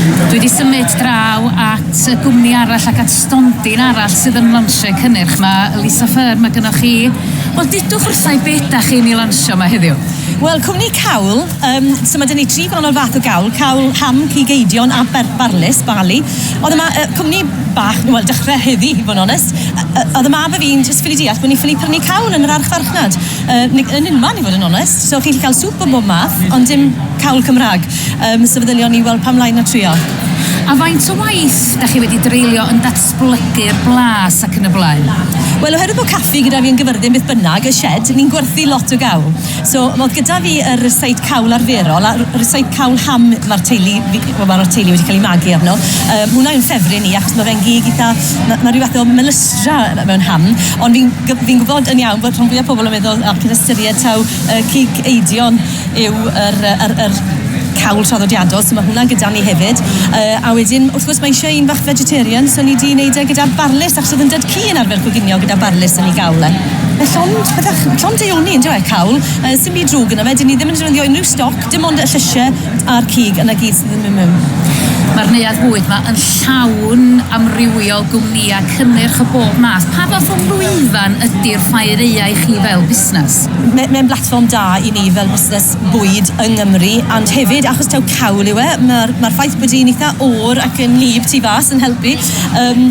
Dwi wedi symud draw at y gwmni arall ac at stondin arall sydd yn lansio'u cynnyrch. Mae Lisa Fern, mae gynnoch chi... Wel, dudwch wrtha i be dach chi'n ei lansio yma heddiw? Wel, cwmni cawl, yym, so ma' 'da ni tri gwahanol fath o gawl, cawl ham, cig eidion a ber- barlys, barley. Ond yma, yy, cwmni bach, wel, dechre heddi, i fod yn onest, yy yy, o'dd y mab a fi'n jyst ffili deall bo' ni ffili prynu cawl yn yr archfarchnad. Yy ni- yn unman i fod yn onest. So chi'n gallu cael sŵp o bob math ond dim cawl Cymraeg. Yym so feddylion ni wel pam lai na trio. A faint o waith 'da chi wedi dreulio yn datblygu'r blas ac yn y blaen? Wel oherwydd bod caffi gyda fi yn Gyfyrddin beth bynnag, y shed, ni'n gwerthu lot o gawl. So o'dd gyda fi yr seit cawl arferol a r- seit cawl ham ma'r teulu fi wel ma'r teulu wedi cael ei magu arno. Yy hwnna yw'n ffefryn i achos ma' fe'n gig itha ma' ma' ryw fath o melystra mewn ham ond fi'n Fi'n gwybod yn iawn bod rhan fwyaf pobl yn meddwl ac yn ystyried taw y cig eidion yw yr, yy yr, yr cawl traddodiadol, so ma' hwnna gyda ni hefyd. Yy, a wedyn, wrth gwrs, mae eisiau un fach vegetarian, so ni 'di neud e gyda barlys, achos o'dd 'yn dad cu yn arfer coginio gyda barlys yn 'i gawl e. Mae llond, bydach, llond deuoni, yndyw e, cawl, yy, sim byd drwg yno fe, 'dyn ni ddim yn defnyddio unrhyw stoc, Dim ond y llysie a'r cig yna gyd sydd yn Mymym. Mae'r neuadd bwyd ma yn llawn amrywio gwmnïau cynnyrch o bob math. Pa fath o lwyfan ydi'r Ffaereia i chi fel busnes? Mae mae'n blatfform da i ni fel busnes bwyd yng Nghymru ond hefyd achos taw cawl yw e, mae'r mae'r ffaith bod hi'n eitha oer ac yn wlyb tu fas yn helpu. Yym.